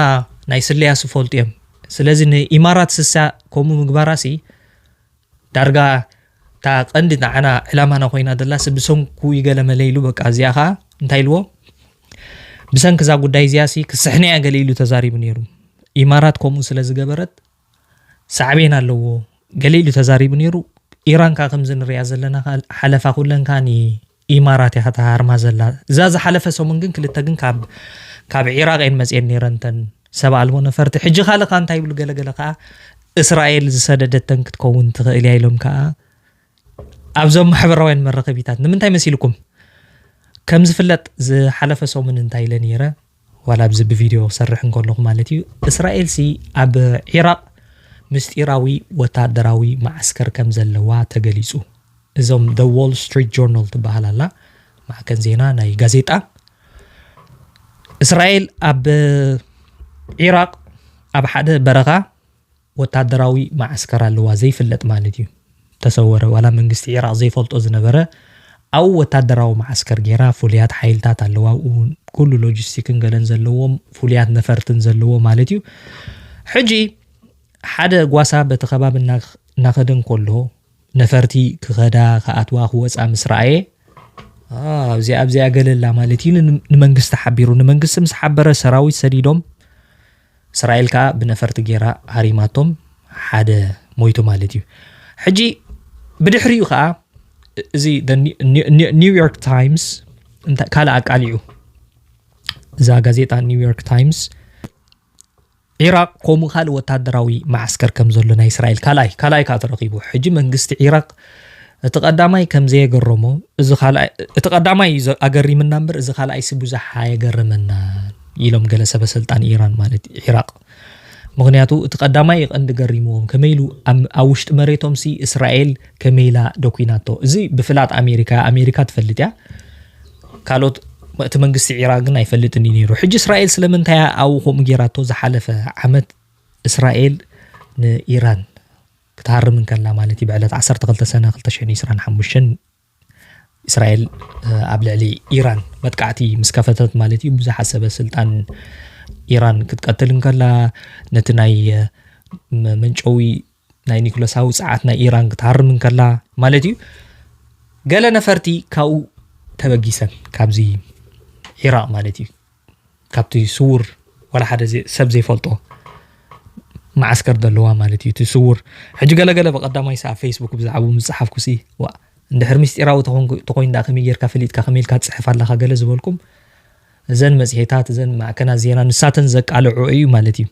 ናይ ስለያ ስፈልጡ እዮም ስለዚ ንኢማራት ስሳ ከምኡ ምግባራሲ ዳርጋ እታ ቀንዲ ንዓና ዕላማና ኮይና ዘላሲ ብሰንኩ ይገለመለ ኢሉ በቃ እዚኣ ከዓ እንታይ ኢልዎ ብሰንኪ እዛ ጉዳይ እዚኣ ሲ ክስሕነ እያ ገለ ኢሉ ተዛሪቡ ነይሩ ኢማራት ከምኡ ስለ ዝገበረት ሳዕቤን ኣለዎ ገለ ኢሉ ተዛሪቡ ኔሩ ኢራን ከኣ ከምዚ ንሪኣ ዘለና ከኣ ሓለፋ ኩለን ከኣ ን ኢማራት እያ ከተሃርማ ዘላ እዛ ዝሓለፈ ሰሙን ግን ክልተ ግን ካብ ካብ ዒራቅ እየን መጽኤን ኔረን ተን ሰብ ኣልቦ ነፈርቲ ሕጂ ካልእ ከኣ እንታይ ይብሉ ገለ ገለ ከኣ እስራኤል ዝሰደደተን ክትከውን ትኽእል እያ ኢሎም ከኣ ኣብዞም ማሕበራውያን መራኸቢታት ንምንታይ መሲልኩም ከም ዝፍለጥ ዝሓለፈ ሰሙን እንታይ ኢለ ነይረ ዋላ ኣብዚ ብቪድዮ ክሰርሕ እንከለኹ ማለት እዩ እስራኤልሲ ኣብ ዒራቕ ምስጢራዊ ወታደራዊ መዓስከር ከም ዘለዋ ተገሊጹ። እዞም ደ ዎል ስትሪት ጆርናል ትበሃል ኣላ ማዕከን ዜና ናይ ጋዜጣ እስራኤል ኣብ ዒራቕ ኣብ ሓደ በረኻ ወታደራዊ መዓስከር ኣለዋ ዘይፍለጥ ማለት እዩ ተሰወረ ዋላ መንግስቲ ዒራቅ ዘይፈልጦ ዝነበረ ኣብኡ ወታደራዊ መዓስከር ጌራ ፍሉያት ሓይልታት ኣለዋ ኣብኡ ኩሉ ሎጂስቲክን ገለን ዘለዎም ፍሉያት ነፈርትን ዘለዎ ማለት እዩ ሕጂ ሓደ ጓሳ በቲ ከባቢ እናኸደ እንከሎ ነፈርቲ ክኸዳ ክኣትዋ ክወፃ ምስ ረኣየ ኣብዚኣ ኣብዚኣ ገለላ ማለት እዩ ንመንግስቲ ሓቢሩ ንመንግስቲ ምስ ሓበረ ሰራዊት ሰዲዶም እስራኤል ከኣ ብነፈርቲ ጌራ ሃሪማቶም ሓደ ሞይቱ ማለት እዩ ሕጂ ብድሕሪኡ ከኣ እዚ ኒውዮርክ ታይምስ ካልእ ኣቃሊዑ እዛ ጋዜጣ ኒውዮርክ ታይምስ ዒራቅ ከምኡ ካልእ ወታደራዊ ማዓስከር ከም ዘሎ ናይ እስራኤል ካልኣይ ካልኣይ ከዓ ተረኪቡ ሕጂ መንግስቲ ዒራቅ እቲ ቀዳማይ ከም ዘየገረሞ እዚ ካልኣይ እቲ ቀዳማይ እዩ ዘ- ኣገሪምና እምበር እዚ ካልኣይሲ ብዙሕ ኣየገረመናን ኢሎም ገለ ሰበስልጣን ኢራን ማለት እዩ ዒራቕ ምኽንያቱ እቲ ቀዳማይ እዩ ቀንዲ ገሪምዎም ከመይ ኢሉ ኣብ ኣብ ውሽጢ መሬቶምሲ እስራኤል ከመይ ኢላ ደኲናቶ እዚ ብፍላጥ ኣሜሪካ ኣሜሪካ ትፈልጥ እያ ካልኦት እቲ መንግስቲ ዒራቅ ግን ኣይፈልጥን እዩ ነይሩ ሕጂ እስራኤል ስለምንታይ ኣብኡ ከምኡ ጌራቶ ዝሓለፈ ዓመት እስራኤል ንኢራን ክትሃርም እንከላ ማለት እዩ ብዕለት ዓሰርተ ክልተ ሰነ ክልተ ሽሕን ዒስራን ሓሙሽተን እስራኤል ኣብ ልዕሊ ኢራን መጥቃዕቲ ምስ ከፈተት ማለት እዩ ብዙሓት ሰበ ስልጣን ኢራን ክትቀትል እንከላ ነቲ ናይ መንጨዊ ናይ ኒኩለሳዊ ፀዓት ናይ ኢራን ክትሃርም እንከላ ማለት እዩ ገለ ነፈርቲ ካብኡ ተበጊሰን ካብዚ ዒራቅ ማለት እዩ ካብቲ ስዉር ዋላ ሓደ ሰብ ዘይፈልጦ መዓስከር ደለዋ ማለት እዩ እቲ ስዉር ሕጂ ገለገለ ብቀዳማይ ሰ ኣብ ፌስቡክ ብዛዕባኡ ምስ ጸሓፍኩሲ ዋ እንድሕር ምስጢራዊ ተኾይኑ ደኣ ከመይ ጌርካ ፈሊጥካ ከመይ ኢልካ ትጽሕፍ ኣለኻ ገለ ዝበልኩም እዘን መጽሔታት እዘን ማዕከናት ዜና ንሳተን ዘቃልዑ እዩ ማለት እዩ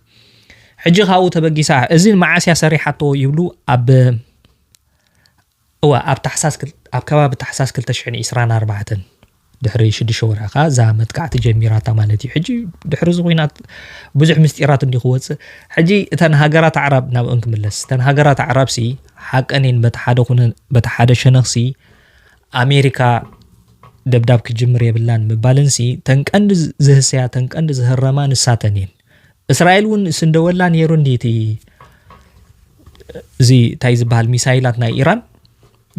ሕጂ ካብኡ ተበጊሳ እዚ መዓስ እያ ሰሪሓቶ ይብሉ ኣብ እወ፣ ኣብ ታሕሳስ ኣብ ከባቢ ታሕሳስ ክልተ ሽሕን ዒስራን ኣርባዕተን፣ ድሕሪ ሽዱሽተ ወርሒ ከኣ እዛ መጥቃዕቲ ጀሚራታ ማለት እዩ። ሕጂ ድሕሪ እዚ ኹናት ብዙሕ ምስጢራት እንድዩ ክወጽእ። ሕጂ እተን ሃገራት ኣዕራብ ናብእን ክምለስ፣ እተን ሃገራት ኣዕራብሲ ሓቀን እየን በቲ ሓደ ኩነ በቲ ሓደ ሸነኽሲ ኣሜሪካ ደብዳብ ክጅምር የብላን ምባለንሲ ተን ቀንዲ ዝህሰያ ተን ቀንዲ ዝህረማ ንሳተን እየን። እስራኤል እውን ስንደወላ ነይሩ እንዲ እቲ እዚ እንታይ ዝበሃል ሚሳይላት ናይ ኢራን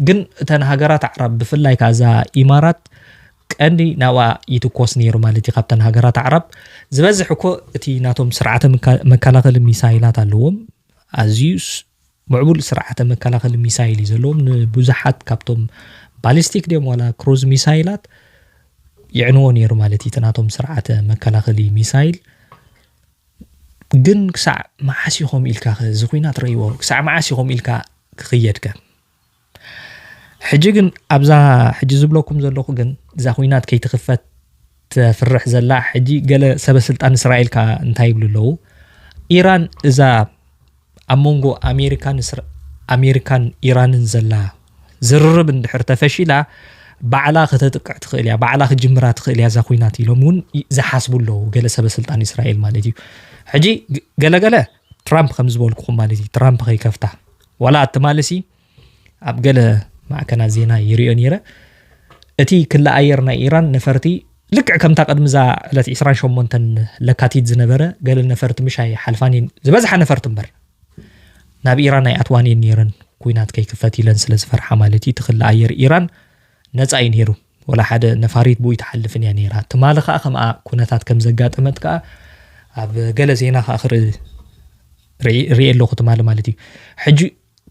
ግን እተን ሃገራት ኣዕራብ ብፍላይ ካዛ ኢማራት ቀንዲ ናብኣ ይትኮስ ነይሩ ማለት እዩ ካብተን ሃገራት ኣዕራብ ዝበዝሕ እኮ እቲ ናቶም ስርዓተ መከላኸሊ ሚሳይላት ኣለዎም ኣዝዩ ምዕቡል ስርዓተ መከላኸሊ ሚሳይል እዩ ዘለዎም። ንብዙሓት ካብቶም ባሊስቲክ ድዮም ዋላ ክሩዝ ሚሳይላት የዕንዎ ነይሩ ማለት እዩ እቲ ናቶም ስርዓተ መከላኸሊ ሚሳይል ግን ክሳዕ መዓስ ኢኹም ኢልካ እዚ ኩናት ረይዎ ክሳዕ መዓስ ኢኹም ኢልካ ክኽየድከ ሕጂ ግን ኣብዛ ሕጂ ዝብለኩም ዘለኹ ግን እዛ ኩናት ከይትኽፈት ተፍርሕ ዘላ ሕጂ ገለ ሰበ ስልጣን እስራኤል ከ እንታይ ይብሉ ኣለዉ ኢራን እዛ ኣብ መንጎ ኣሜሪካን ኣሜሪካን ኢራንን ዘላ ዝርርብ እንድሕር ተፈሺላ ባዕላ ከተጥቅዕ ትኽእል እያ ባዕላ ክጅምራ ትኽእል እያ እዛ ኩናት ኢሎም እውን ዝሓስቡ ኣለዉ ገለ ሰበ ስልጣን እስራኤል ማለት እዩ ሕጂ ገለገለ ትራምፕ ከም ዝበልኩኹም ማለት እዩ ትራምፕ ከይከፍታ ዋላ ኣትማልሲ ኣብ ገለ ማዕከናት ዜና ይሪኦ ነይረ እቲ ክሊ ኣየር ናይ ኢራን ነፈርቲ ልክዕ ከምታ ቅድሚዛ ዕለት 28 ለካቲት ዝነበረ ገለ ነፈርቲ ምሻይ ሓልፋን እየን ዝበዝሓ ነፈርቲ እምበር ናብ ኢራን ኣይኣትዋን እየን ነይረን ኩናት ከይክፈት ኢለን ስለ ዝፈርሓ ማለት እዩ እቲ ክሊ ኣየር ኢራን ነፃ እዩ ነይሩ ወላ ሓደ ነፋሪት ብኡ ኣይትሓልፍን እያ ነይራ። ትማሊ ከኣ ከምኣ ኩነታት ከም ዘጋጠመት ከኣ ኣብ ገለ ዜና ከኣ ክርኢ ርእየ ኣለኹ ትማሊ ማለት እዩ። ሕጂ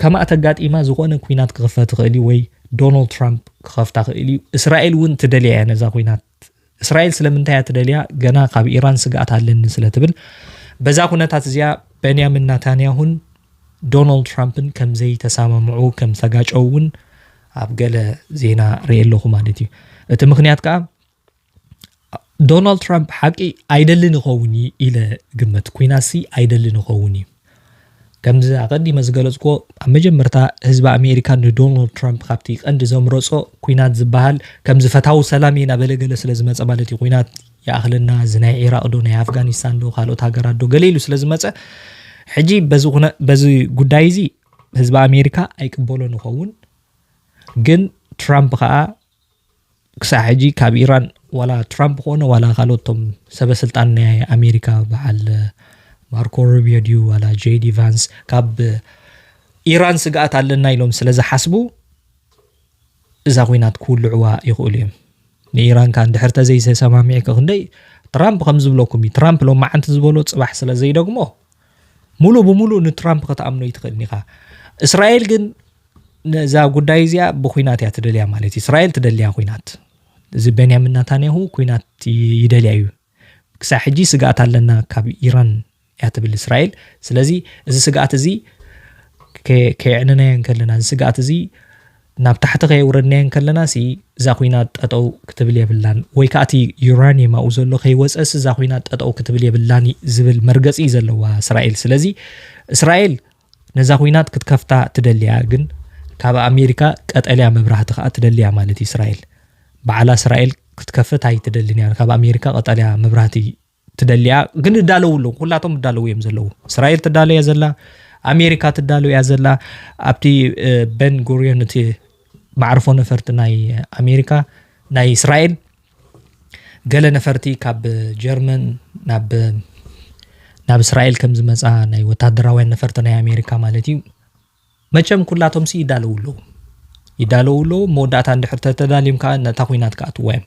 ከምኣ ተጋጢማ ዝኾነ ኩናት ክኽፈት ይኽእል እዩ ወይ ዶናልድ ትራምፕ ክኸፍታ ክእል እዩ። እስራኤል እውን ትደልያ እያ ነዛ ኩናት እስራኤል ስለምንታይ እያ ትደልያ ገና ካብ ኢራን ስግኣት ኣለኒ ስለ ትብል በዛ ኩነታት እዚኣ በንያሚን ናታንያሁን ዶናልድ ትራምፕን ከም ዘይተሳማምዑ ከም ዝተጋጨው እውን ኣብ ገለ ዜና ርኤ ኣለኹ ማለት እዩ እቲ ምክንያት ከዓ ዶናልድ ትራምፕ ሓቂ ኣይደልን ይኸውን እዩ ኢለ ግመት ኩናሲ ኣይደልን ይኸውን እዩ ከምዚ ኣቐዲመ ዝገለጽኩዎ ኣብ መጀመርታ ህዝቢ ኣሜሪካ ንዶናልድ ትራምፕ ካብቲ ቀንዲ ዘምረጾ ኩናት ዝበሃል ከምዚ ፈታዊ ሰላም እየ ናበለ ገለ ስለ ዝመፀ ማለት እዩ ኩናት ይኣኽለና እዚ ናይ ዒራቕ ዶ ናይ ኣፍጋኒስታን ዶ ካልኦት ሃገራት ዶ ገለ ኢሉ ስለ ዝመጸ ሕጂ በዚ ኩነ በዚ ጉዳይ እዚ ህዝቢ ኣሜሪካ ኣይቅበሎን ይኸውን ግን ትራምፕ ከዓ ክሳዕ ሕጂ ካብ ኢራን ዋላ ትራምፕ ኮነ ዋላ ካልኦቶም ሰበ ስልጣን ናይ ኣሜሪካ በዓል ማርኮ ሩቢዮ ድዩ ዋላ ጄዲ ቫንስ ካብ ኢራን ስግኣት ኣለና ኢሎም ስለ ዝሓስቡ እዛ ኩናት ክውልዕዋ ይኽእሉ እዮም ንኢራን ከ እንድሕር ተዘይተሰማሚዕ ክንደይ ትራምፕ ከም ዝብለኩም እዩ ትራምፕ ሎማዓንቲ ዝበሎ ፅባሕ ስለ ዘይደግሞ ሙሉእ ብሙሉእ ንትራምፕ ከተኣምኖ ይትኽእልን ኢኻ እስራኤል ግን ነዛ ጉዳይ እዚኣ ብኩናት እያ ትደልያ ማለት እዩ እስራኤል ትደልያ ኩናት እዚ ቤንያሚን ናታንያሁ ኩናት ይደልያ እዩ ክሳብ ሕጂ ስግኣት ኣለና ካብ ኢራን እያ ትብል እስራኤል። ስለዚ እዚ ስግኣት እዚ ከየዕንናዮ እንከለና እዚ ስግኣት እዚ ናብ ታሕቲ ከየውረድናዮ እንከለና ሲ እዛ ኩናት ጠጠው ክትብል የብላን ወይ ከዓ እቲ ዩራኒየም ኣብኡ ዘሎ ከይወፀሲ እዛ ኩናት ጠጠው ክትብል የብላን ዝብል መርገፂ እዩ ዘለዋ እስራኤል ስለዚ እስራኤል ነዛ ኩናት ክትከፍታ ትደልያ ግን ካብ ኣሜሪካ ቀጠልያ መብራህቲ ከዓ ትደልያ ማለት እዩ እስራኤል በዓላ እስራኤል ክትከፍት ኣይትደልን እያ ካብ ኣሜሪካ ቀጠልያ መብራህቲ ትደሊያ ግን እዳለው ኣለዉ ኩላቶም እዳለው እዮም ዘለዉ እስራኤል ትዳለ እያ ዘላ ኣሜሪካ ትዳለ እያ ዘላ ኣብቲ በን ጉሪዮን እቲ ማዕርፎ ነፈርቲ ናይ ኣሜሪካ ናይ እስራኤል ገለ ነፈርቲ ካብ ጀርመን ናብ ናብ እስራኤል ከም ዝመፃ ናይ ወታደራውያን ነፈርቲ ናይ ኣሜሪካ ማለት እዩ መቸም ኩላቶምሲ ይዳለዉ ኣለዉ ይዳለዉ ኣለዉ መወዳእታ እንድሕር ተተዳልዮም ከዓ ነታ ኩናት ክኣትዋ እዮም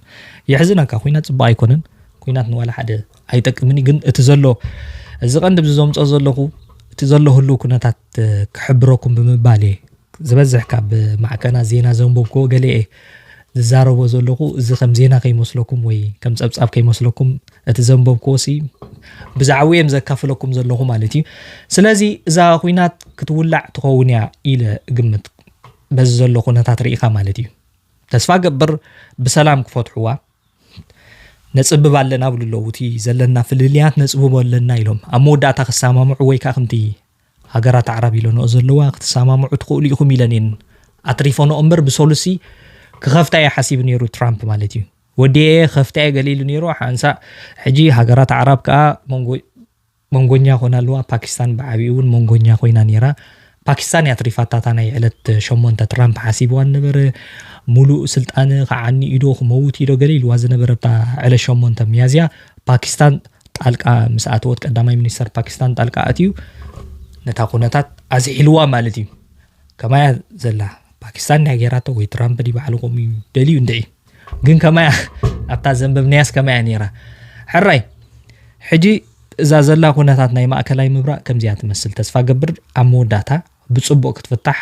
የሕዝነካ ኩናት ፅቡቅ ኣይኮነን ኩናት ንዋላ ሓደ ኣይጠቅምን ግን እቲ ዘሎ እዚ ቀንዲ ብዚ ዘምፆ ዘለኹ እቲ ዘሎ ህሉ ኩነታት ክሕብረኩም ብምባል እየ ዝበዝሕ ካብ ማዕከናት ዜና ዘንበብክዎ ገለ እየ ዝዛረቦ ዘለኹ እዚ ከም ዜና ከይመስለኩም ወይ ከም ጸብጻብ ከይመስለኩም እቲ ዘንበብክዎሲ ብዛዕባ እየም ዘካፍለኩም ዘለኹ ማለት እዩ ስለዚ እዛ ኩናት ክትውላዕ ትኸውን እያ ኢለ እግምት በዚ ዘሎ ኩነታት ርኢኻ ማለት እዩ ተስፋ ገብር ብሰላም ክፈትሕዋ ነፅብብ ኣለና ብሉ ኣለዉ እቲ ዘለና ፍልልያት ነፅብቦ ኣለና ኢሎም ኣብ መወዳእታ ክሰማምዑ ወይ ከዓ ከምቲ ሃገራት ኣዕራብ ኢለንኦ ዘለዋ ክትሰማምዑ ትኽእሉ ኢኹም ኢለን እየን ኣትሪፈንኦ እምበር ብሰሉሲ ክኸፍታ እየ ሓሲቡ ነይሩ ትራምፕ ማለት እዩ ወዲኤ ከፍታ እየ ገሊሉ ነይሩ ሓንሳእ ሕጂ ሃገራት ኣዕራብ ከዓ መንጎ መንጎኛ ኮና ኣለዋ ፓኪስታን ብዓብኡ እውን መንጎኛ ኮይና ነይራ ፓኪስታን እያ ትሪፋታታ ናይ ዕለት ሸሞንተ ትራምፕ ሓሲብዋ ነበረ ሙሉእ ስልጣን ከዓኒ ኢዶ ክመውት ኢዶ ገለ ኢልዋ ዝነበረ ዕለት ሸሞንተ ሚያዝያ ፓኪስታን ጣልቃ ምስ ኣተወት ቀዳማይ ሚኒስተር ፓኪስታን ጣልቃ ኣትዩ ነታ ኩነታት ኣዝሒልዋ ማለት እዩ ከማያ ዘላ ፓኪስታን ናይ ገይራቶ ወይ ትራምፕ ዲ ባዕሉ ከምኡ እዩ ደልዩ እንድዒ ግን ከማያ ኣብታ ዘንበብናያስ ከማያ ነይራ ሕራይ ሕጂ እዛ ዘላ ኩነታት ናይ ማእከላይ ምብራቅ ከምዚያ ትመስል ተስፋ ገብር ኣብ መወዳእታ ብፅቡቅ ክትፍታሕ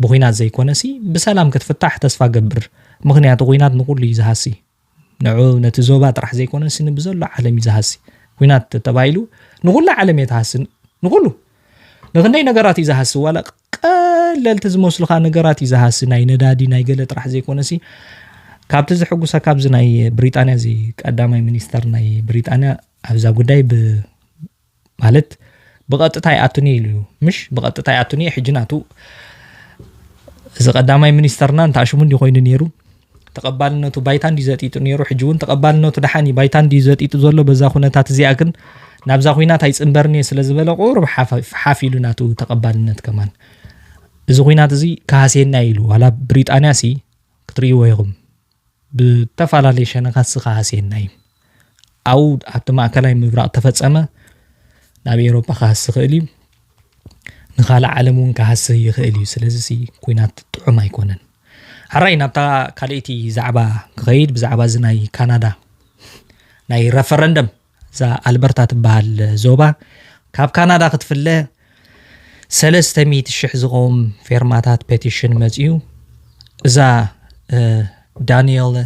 ብኩናት ዘይኮነሲ ብሰላም ክትፍታሕ ተስፋ ገብር ምክንያቱ ኩናት ንኩሉ እዩ ዝሃሲ ንዑ ነቲ ዞባ ጥራሕ ዘይኮነሲ ንብዘሎ ዓለም እዩ ዝሃሲ። ኩናት ተተባሂሉ ንኹላ ዓለም እየ ትሃሲ ንኹሉ ንክንደይ ነገራት እዩ ዝሃሲ ዋላ ቀለልቲ ዝመስሉኻ ነገራት እዩ ዝሃሲ ናይ ነዳዲ ናይ ገለ ጥራሕ ዘይኮነሲ ካብቲ ዝሕጉሰ ካብዚ ናይ ብሪጣንያ እዚ ቀዳማይ ሚኒስተር ናይ ብሪጣንያ ኣብዛ ጉዳይ ብ ማለት ብቐጥታ ይኣቱኒ ኢሉ እዩ ምሽ ብቐጥታ ይኣቱኒ እዩ ሕጂ ናቱ እዚ ቀዳማይ ሚኒስተርና እንተ ኣሽሙ እንዲ ኮይኑ ነይሩ ተቐባልነቱ ባይታ እንዲ ዘጢጡ ነይሩ ሕጂ እውን ተቐባልነቱ ደሓን እዩ ባይታ እንዲ ዘጢጡ ዘሎ በዛ ኩነታት እዚኣ ግን ናብዛ ኩናት ኣይፅምበርን እየ ስለ ዝበለ ቁሩብ ሓፍ ኢሉ ናቱ ተቐባልነት ከማን እዚ ኩናት እዚ ካሃሴና ኢሉ ዋላ ብሪጣንያ ሲ ክትርእይዎ ኢኹም ብእተፈላለየ ሸነኻት ዝኸሃሰየና እዩ። ኣብኡ ኣብቲ ማእከላይ ምብራቕ ተፈጸመ፣ ናብ ኤውሮጳ ክሃሲ ይኽእል እዩ፣ ንኻልእ ዓለም እውን ክሃሲ ይኽእል እዩ። ስለዚ እዚ ኩናት ጥዑም ኣይኮነን። ሕራይ ናብታ ካልኣይቲ ዛዕባ ክኸይድ ብዛዕባ እዚ ናይ ካናዳ ናይ ረፈረንደም እዛ ኣልበርታ ትበሃል ዞባ ካብ ካናዳ ክትፍለ ሰለስተ ሚእቲ ሽሕ ዝቐውም ፌርማታት ፔቲሽን መፅዩ እዛ ዳንኤል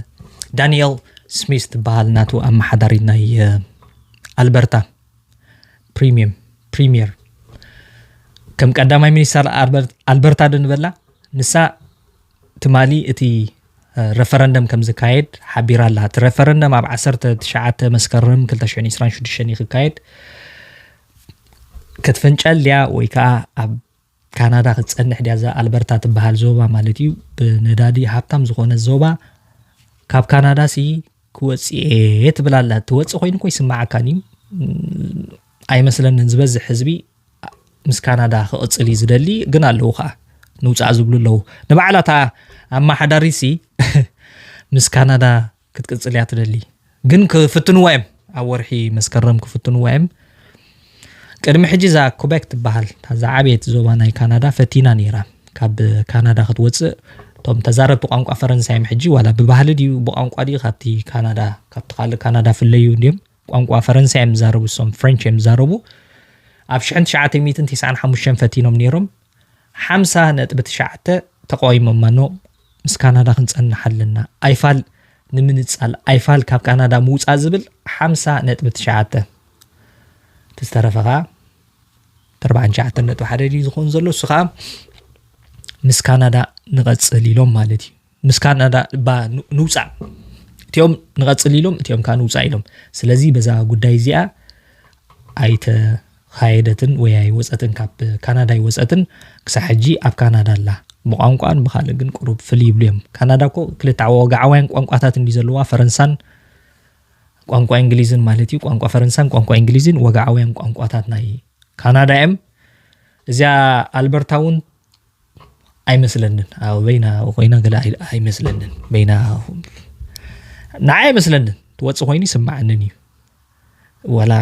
ዳንኤል ስሚስ ትበሃል ናቱ ኣመሓዳሪት ናይ ኣልበርታ ፕሪሚየም ፕሪሚየር ከም ቀዳማይ ሚኒስተር ኣልበርታ ዶ ንበላ ንሳ ትማሊ እቲ ረፈረንደም ከም ዝካየድ ሓቢራ ኣላ። እቲ ረፈረንደም ኣብ 19 መስከረም 2026 እዩ ክካየድ። ክትፍንጨል ድያ ወይ ከዓ ኣብ ካናዳ ክትፀንሕ ድያ እዛ ኣልበርታ ትበሃል ዞባ ማለት እዩ ብነዳዲ ሃብታም ዝኾነ ዞባ ካብ ካናዳ ሲ ክወፅኤ ትብላላ ትወፅእ ኮይኑ ኮ ይስማዓካን እዩ ኣይመስለንን ዝበዝሕ ህዝቢ ምስ ካናዳ ክቕጽል እዩ ዝደሊ ግን ኣለዉ ከኣ ንውጻእ ዝብሉ ኣለዉ ንባዕላ እታ ኣመሓዳሪሲ ምስ ካናዳ ክትቅጽል እያ ትደሊ ግን ክፍትንዋ እዮም ኣብ ወርሒ መስከረም ክፍትንዋ እዮም ቅድሚ ሕጂ እዛ ኩበክ ትበሃል እዛ ዓብየት ዞባ ናይ ካናዳ ፈቲና ነይራ ካብ ካናዳ ክትወፅእ እቶም ተዛረብቲ ቋንቋ ፈረንሳይ እዮም ሕጂ ዋላ ብባህሊ ድዩ ብቋንቋ ድዩ ካብቲ ካናዳ ካብቲ ካልእ ካናዳ ፍለዩ እንዲዮም ቋንቋ ፈረንሳ እዮም ዝዛረቡ እሶም ፍረንች እዮም ዝዛረቡ ኣብ ሽሕን ትሽዓተ ሚእትን ቲስዓን ሓሙሽተን ፈቲኖም ነይሮም ሓምሳ ነጥቢ ትሽዓተ ተቃዊሞማ ኖ ምስ ካናዳ ክንጸንሕ ኣለና ኣይፋል ንምንጻል ኣይፋል ካብ ካናዳ ምውጻእ ዝብል ሓምሳ ነጥቢ ትሽዓተ እቲ ዝተረፈ ከዓ ተርባዕን ሸዓተን ነጥቢ ሓደ ድዩ ዝኾን ዘሎ እሱ ከዓ ምስ ካናዳ ንቐጽል ኢሎም ማለት እዩ ምስ ካናዳ እባ ንውፃእ እቲኦም ንቐፅል ኢሎም እቲኦም ከዓ ንውፃእ ኢሎም ስለዚ በዛ ጉዳይ እዚኣ ኣይተኻየደትን ወይ ኣይወፀትን ካብ ካናዳ ኣይወፀትን ክሳብ ሕጂ ኣብ ካናዳ ኣላ ብቋንቋን ብካልእ ግን ቅሩብ ፍልይ ይብሉ እዮም ካናዳ እኮ ክልተ ወግዓውያን ቋንቋታት እንዲ ዘለዋ ፈረንሳን ቋንቋ እንግሊዝን ማለት እዩ ቋንቋ ፈረንሳን ቋንቋ እንግሊዝን ወግዓውያን ቋንቋታት ናይ ካናዳ እዮም እዚኣ ኣልበርታ እውን ኣይመስለንን ኣብ በይና ኮይና ገለ ኣይመስለንን በይና ንዓይ ኣይመስለንን ትወፅ ኮይኑ ይስማዓንን እዩ ወላ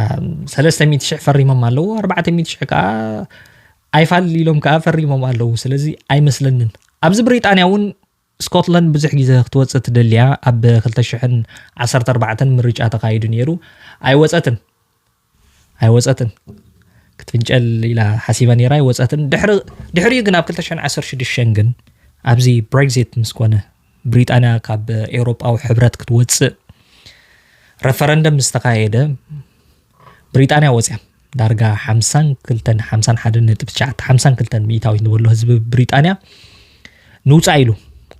ሰለስተ ሚእቲ ሽሕ ፈሪሞም ኣለዎ ኣርባዕተ ሚእቲ ሽሕ ከዓ ኣይፋል ኢሎም ከዓ ፈሪሞም ኣለዉ ስለዚ ኣይመስለንን ኣብዚ ብሪጣንያ እውን ስኮትላንድ ብዙሕ ግዜ ክትወጽእ ትደሊ'ያ፣ ኣብ ክልተ ሽሕን ዓሰርተ ኣርባዕተን ምርጫ ተኻይዱ ነይሩ፣ ኣይወጸትን፣ ኣይወጸትን፣ ክትፍንጨል ኢላ ሓሲባ ነይራ፣ ኣይወጸትን፣ ድሕሪ ድሕሪኡ ግን ኣብ ክልተ ሽሕን ዓሰርተ ሽዱሽተን ግን ኣብዚ ብሬግዚት ምስ ኮነ ብሪጣንያ ካብ ኤውሮጳዊ ሕብረት ክትወጽእ ረፈረንደም ምስ ተኻየደ ብሪጣንያ ወጽያ ዳርጋ ሓምሳን ክልተን ሓምሳን ሓደ ነጥቢ ትሽዓተ ሓምሳን ክልተን ሚእታዊት ንበሎ ህዝቢ ብሪጣንያ ንውፃእ ኢሉ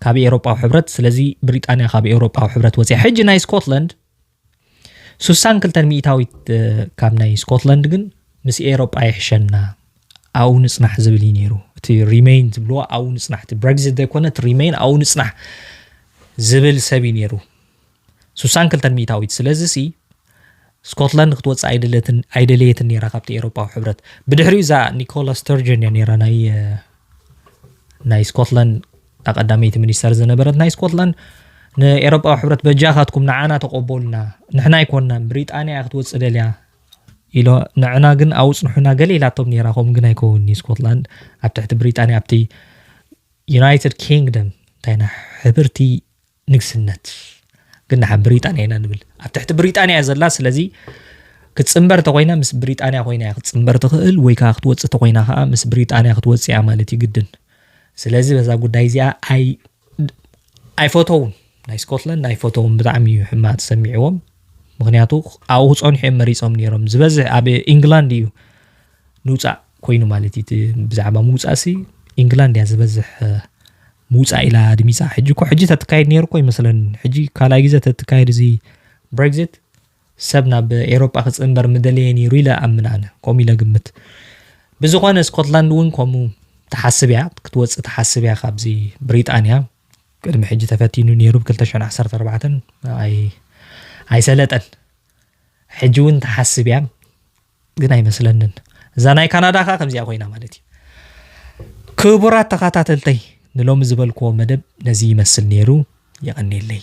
ካብ ኤውሮጳዊ ሕብረት ስለዚ ብሪጣንያ ካብ ኤውሮጳዊ ሕብረት ወፅያ ሕጂ ናይ ስኮትላንድ ስሳን ክልተን ሚእታዊት ካብ ናይ ስኮትላንድ ግን ምስ ኤውሮጳ ይሕሸና ኣብኡ ንፅናሕ ዝብል እዩ ነይሩ እቲ ሪሜይን ዝብልዎ ኣብኡ ንፅናሕ እቲ ብሬግዚት ዘይኮነ እቲ ሪሜይን ኣብኡ ንፅናሕ ዝብል ሰብ እዩ ነይሩ ስሳን ክልተን ሚእታዊት ስለዚሲ ስኮትላንድ ክትወጽእ ኣይደለትን ኣይደለየትን ነይራ ካብቲ ኤሮፓዊ ሕብረት ብድሕሪኡ እዛ ኒኮላ ስተርጀን እያ ነይራ ናይ ናይ ስኮትላንድ ኣቀዳመይቲ ሚኒስተር ዝነበረት ናይ ስኮትላንድ ንኤሮጳዊ ሕብረት በጃኻትኩም ንዓና ተቆበሉና ንሕና ኣይኮናን ብሪጣንያ እያ ክትወፅእ ደልያ ኢሎ ንዕና ግን ኣውፅንሑና ገለ ኢላቶም ነራ ከምኡ ግን ኣይከውን ስኮትላንድ ኣብ ትሕቲ ብሪጣንያ ኣብቲ ዩናይትድ ኪንግደም እንታይና ሕብርቲ ንግስነት ግን ንሓ ብሪጣንያ ኢና ንብል ኣብ ትሕቲ ብሪጣንያ እያ ዘላ ስለዚ ክትፅምበር ተኮይና ምስ ብሪጣንያ ኮይና እያ ክትፅምበር ትኽእል ወይ ከዓ ክትወፅእ ተኮይና ከዓ ምስ ብሪጣንያ ክትወፅእ እያ ማለት እዩ ግድን ስለዚ በዛ ጉዳይ እዚኣ ኣይ ኣይፈተውን ናይ ስኮትላንድ ኣይፈተውን ብጣዕሚ እዩ ሕማቅ ተሰሚዕዎም ምክንያቱ ኣብኡ ክፀንሑ እዮም መሪፆም ነይሮም ዝበዝሕ ኣብ ኢንግላንድ እዩ ንውጻእ ኮይኑ ማለት እዩ ብዛዕባ ምውጻእ ሲ ኢንግላንድ እያ ዝበዝሕ ምውጻእ ኢላ ኣድሚጻ ሕጂ እኮ ሕጂ ተትካየድ ነይሩ እኮ ይመስለኒ ሕጂ ካልኣይ ግዜ ተትካየድ እዚ ብሬግዚት ሰብ ናብ ኤሮጳ ክጽንበር ምደለየ ነይሩ ኢለ ኣምን ኣነ ከምኡ ኢለ ግምት ብዝኾነ ስኮትላንድ እውን ከምኡ ትሓስብ እያ ክትወፅእ ትሓስብ እያ ካብዚ ብሪጣንያ ቅድሚ ሕጂ ተፈቲኑ ነይሩ ብ 214 ኣይሰለጠን ሕጂ እውን ትሓስብ እያ ግን ኣይመስለንን እዛ ናይ ካናዳ ከዓ ከምዚኣ ኮይና ማለት እዩ ክቡራት ተኸታተልተይ ንሎሚ ዝበልክዎ መደብ ነዚ ይመስል ነይሩ የቐኔለይ